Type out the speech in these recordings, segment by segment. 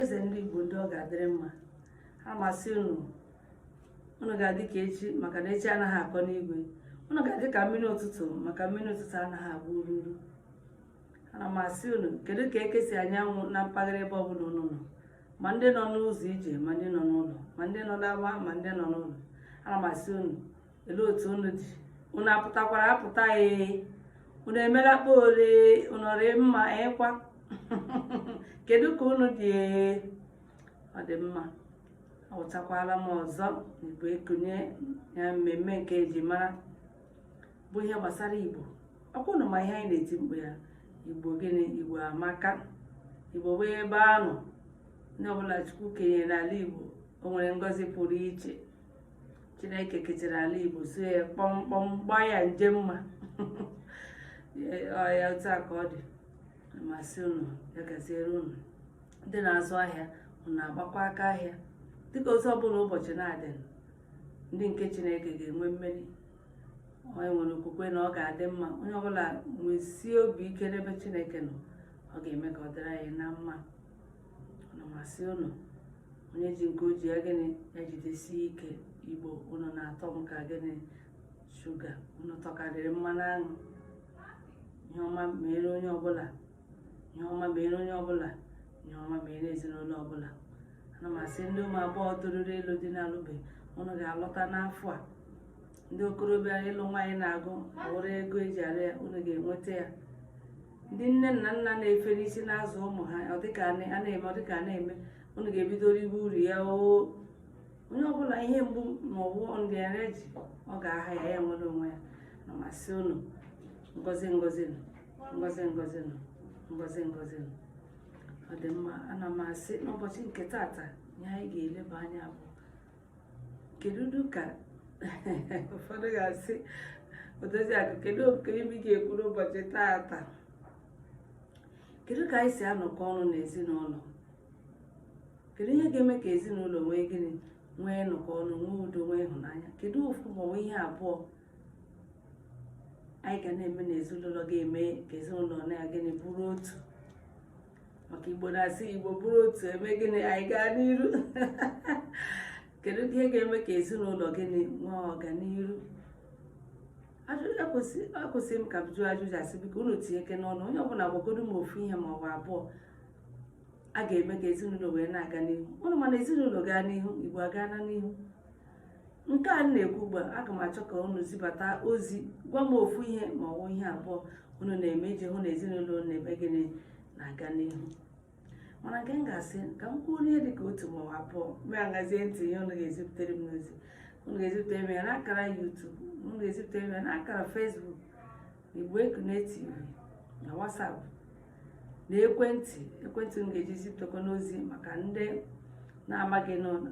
ezi ndị Igbo ndị ọ ga-adịrị mma ana m asị unu unu ga-adị ka echi maka na echi anaghị akọ n'igwe unu ga-adị ka mmiri ụtụtụ maka mmiri ụtụtụ anaghị agba ururu ana m asị unu kedu ka eke si anya anwụ na mpaghara ebe ọbụla unu nọ ma ndị nọ n'ụzọ ije ma ndị nọ n'ụlọ ma ndị nọ n'ama ma ndị nọ n'ụlọ ana m asị unu olee otu unu dị unu apụtakwara apụta ee unu emela kpa ole unu rị mma ịkwa kedu ka unu dị ee ọ dị mma awụtakwala m ọzọ igbo ekunie ya mmemme nke eji mara bụ ihe gbasara igbo ọkwa unu ma ihe anyị na-eti mkpu ya igbo gịnị igbo amaka igbo bụ ebe a nọ ndị ọbụla chukwu kenyere n'ala igbo o nwere ngọzi pụrụ iche chineke kechara ala igbo so ya kpọmkpọm gbaa ya nje mma ya otu a ka ọ dị m asị unu ya gaziere unu ndị na-azụ ahịa unu agbakwa aka ahịa dịka otu ọbụla ụbọchị na-adị ndị nke chineke ga-enwe mmeri onye nwere okwukwe na ọ ga-adị mma onye ọbụla nwesie obi ike n'ebe chineke nọ ọ ga-eme ka ọ dịrị anyị na mma ana m asị unu onye ji nke o ji ya gịnị ya jidesie ike igbo unu na-atọ m ka gịnị shuga unu tọkarịrị mmanụ aṅụ ihe ọma meere onye ọbụla ihe ọma meere onye ọbụla ihe ọma meere ezinụlọ ọbụla ana m asị ndị ụmụ agbọghọ toruru ịlụ di na-alụbe unu ga-alụta n'afọ a ndị okorobịa ịlụ nwaanyị na-agụ ọ wụrụ ego eji alụ ya unu ga-enweta ya ndị nne na nna na-efere isi na-azụ ụmụ ha ọ dịka a na- a na-eme ọ dịka a na-eme unu ga-ebido riwe uru ya oo onye ọbụla ihe mgbu ma ọ bụ nrịanrịa ji ọ ga-aha ya ya nwere onwe ya ana m asị unu ngozi ngozi nụ ngozi ngozi nụ ngozi ngozi nụ ọ dị mma ana m asị n'ụbọchị nke taata ihe anyị ga-eleba anya bụ kedu ka ụfọdụ ga-asị odozi akụ kedu ọ bụ gịnị ị ga-ekwu n'ụbọchị taata kedu ka anyị si anọkọ ọnụ n'ezinụlọ kedu ihe ga-eme ka ezinụlọ nwee gịnị nwee nnọkọ ọnụ nwee udo nwee ịhụnanya kedu ofu maọbụ ihe abụọ anyị ga na-eme n'ezinụlọ ga-eme ka ezinụlọ na-a gịnị bụrụ otu maka igbo na-asị igbo bụrụ otu e mee gịnị anyị gaa n'iru kedu ihe ga-eme ka ezinụlọ gịnị nwee ọganiru akwụsị m ka m jụọ ajụjụ a sị biko unu tinye ike n'ọnụ onye ọbụla gwagodo m ofu ihe ma ọ bụ abụọ a ga-eme ka ezinụlọ wee na-aga n'ihu unu ma na ezinụlọ gaa n'ihu igbo agana n'ihu nke anyị na-ekwu ugbu a aga m achọ ka unu zibata ozi gwa m ofu ihe ma ọ bụ ihe abụọ unu na-eme iji hụ na ezinụlọ unu na-eme gịnị na-aga n'ihu mana nke m ga-asị ka m kwuo ihe dị ka otu ma ọ bụ abụọ m egezie ntị ihe unu ga-ezipụtere m n'ozi unu ga-ezipụtere m ya n'akara YouTube unu ga-ezipụtere m ya n'akara Facebook Igbo Ekunie TV na WhatsApp na ekwentị ekwentị unu ga-eji zipụtakwa n'ozi maka ndị na-amaghị n'ụlọ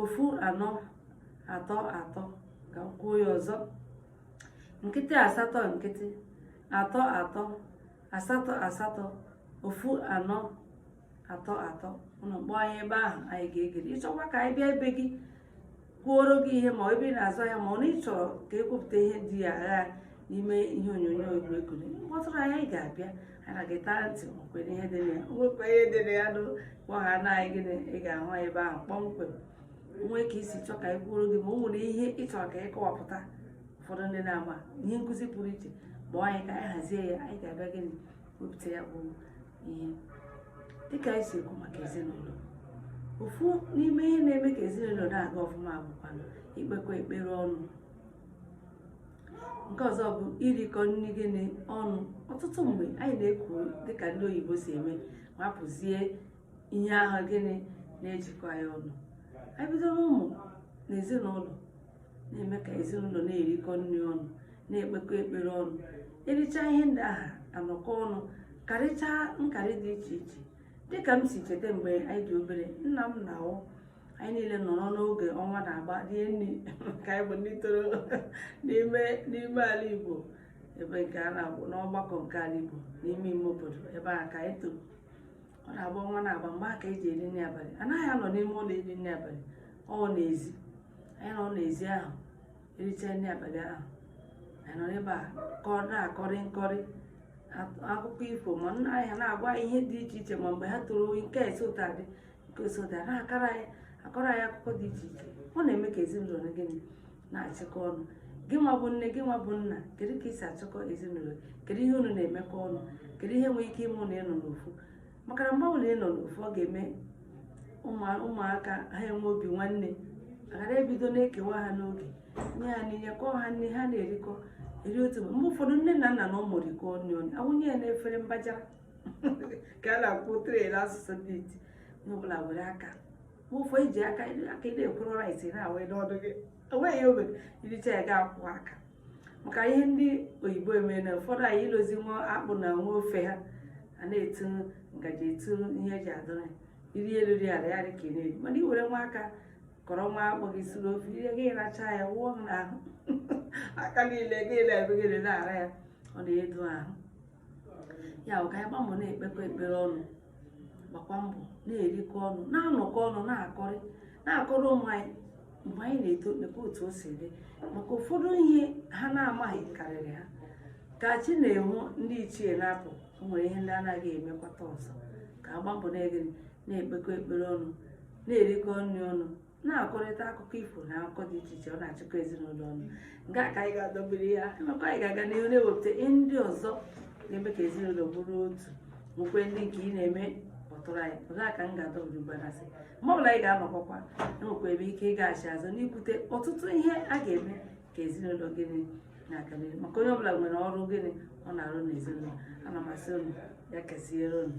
ofu anọ atọ atọ ka m kwuo ya ọzọ nkịtị asatọ nkịtị atọ atọ asatọ asatọ ofu anọ atọ atọ ụnụ kpọọ anyị ebe ahụ anyị ga-egere ịchọkwa ka anyị bịa ebe gị kwuoro gị ihe ma ebe ị na-azụ ahịa ma ọ na ịchọrọ ka ekwupụta ihe dị ya ahụ n'ime ihe onyonyo egwuregwu kpọtụrụ anyị ga-abịa ha ga-etara ntị kwere ihe dị na ya nwekwa ihe dị na ya nụ kpọ ha naanị gịnị ị ga-ahụ anyị ebe ahụ kpọmkwem nwee ka isi chọọ ka anyị kwuoro gị ma o nwere ihe ị chọrọ ka anyị kọwapụta ụfọdụ ndị na-eme ihe nkụzi pụrụ iche kpọọ anyị ka anyị hazie ya anyị ga-abịa gịnị wepụta ya bụ ihe dịka anyị si ekwu maka ezinụlọ ofu n'ime ihe na-eme ka ezinụlọ na-aga ọfụma bụkwa ikpekọ ekpere ọnụ nke ọzọ bụ irikọ nri gịnị ọnụ ọtụtụ mgbe anyị na-ekiri dịka ndị oyibo si eme wepụzie ihe ahụ gịnị na-ejikọ anyị ọnụ anyị bido n'ụmụ na ezinụlọ na-eme ka ezinụlọ na-erikọ nri ọnụ na-ekpekọ ekpere ọnụ ericha ihe ndị ahụ anọkọ ọnụ karịchaa nkarị dị iche iche dịka m si cheta mgbe anyị dị obere nna m na-awụ anyị niile nọrọ n'oge ọnwa na-agba rie nri ka anyị bụ ndị toro n'ime n'ime ala Igbo ebe nke a na-agwụ n'ọgbakọ nke ala Igbo n'ime ime obodo ebe a ka anyị toro ọ na-agba ọnwa na-agba mgbe a ka eji eri nri abalị anaghị anọ n'ime ụlọ eri nri abalị ọ n'ezi anyị nọ n'ezi ahụ ericha nri abalị ahụ anyị nọ ebe ahụ na-akọrị nkọrị akụkọ ifo ma nna anyị ha na-agwa ihe dị iche iche ma mgbe ha toro nke si otu a dị si otu a na-akọrọ anyị akọrọ anyị akụkọ dị iche iche ọ na-eme ka ezinụlọ na gịnị na-achịkọ ọnụ gị nwa bụ nne gị nwa bụ nna kedu ka isi achịkọ ezinụlọ kedu ihe unu na-emekọ ọnụ kedu ihe nwere ike ime unu ịnọ n'ofu maka na mgbe ọbụla ịnọ n'ofu ọ ga-eme ụmụaka ha enwe obi nwanne aghara ibido na-ekewa ha n'oge nye ha nri kọọ ha nri ha na-erikọ eri otu mgbe ụfọdụ nne na nna na ụmụ rikọọ nri ọnụ awụnye ya n'efere mbajara ka a na-akpọ tray n'asụsụ ndị iti onye ọbụla were aka ma ụfọ iji aka aka na-ekwuru rice na-awa n'ọnụ gị enweghị obe i richa ya ga-akwọ aka maka ihe ndị oyibo emee na ụfọdụ anyị ilozi nwa akpụ na nwa ofe ha a na-etu ngaji etu ihe eji adụrụ ya iri elu ri ala ya dị ka ị na-eri mana i were nwa aka kọrọ nwa akpụ gị suru ofe ihe gị racha ya wụọ n'ahụ aka niile gị na-ebe gị na-ara ya ọ na-edo ahụ ya bụ ka anyị gba mbọ na-ekpekọ ekpere ọnụ gbakwa mbọ na-erikọ ọnụ na-anọkọ ọnụ na-akọrị na-akọrọ ụmụ anyị mgbe anyị na-eto nekwa otu o si dị maka ụfọdụ ihe ha na-amaghị karịrị ha ka chi na-enwu ndị ichie na-apụ o nwere ihe ndị anaghị emekwata ọzọ ka a gba mbọ na-ekpekọ ekpere ọnụ na-erikọ nri ọnụ na-akọrịta akụkọ ifo na akụkọ dị iche iche ọ na-achịkọ ezinụlọ ọnụ nke a ka anyị ga-adọbiri ya emekwa anyị ga-aga n'ihu na-ewepụta ihe ndị ọzọ ga-eme ka ezinụlọ bụrụ otu nwekwa ndị nke ị na-eme kpọtụrụ anyị olee ka m ga-adọbiri mgbe anyasị mgbe ọbụla anyị ga-anọkọkwa enwekwa ebe ike ịgaghachi azụ n'ikwute ọtụtụ ihe a ga-eme ka ezinụlọ gịnị na-aga n'ihu maka onye ọbụla nwere ọrụ gịnị ọ na-arụ n'ezinụlọ ana m asị unu ya gaziere unu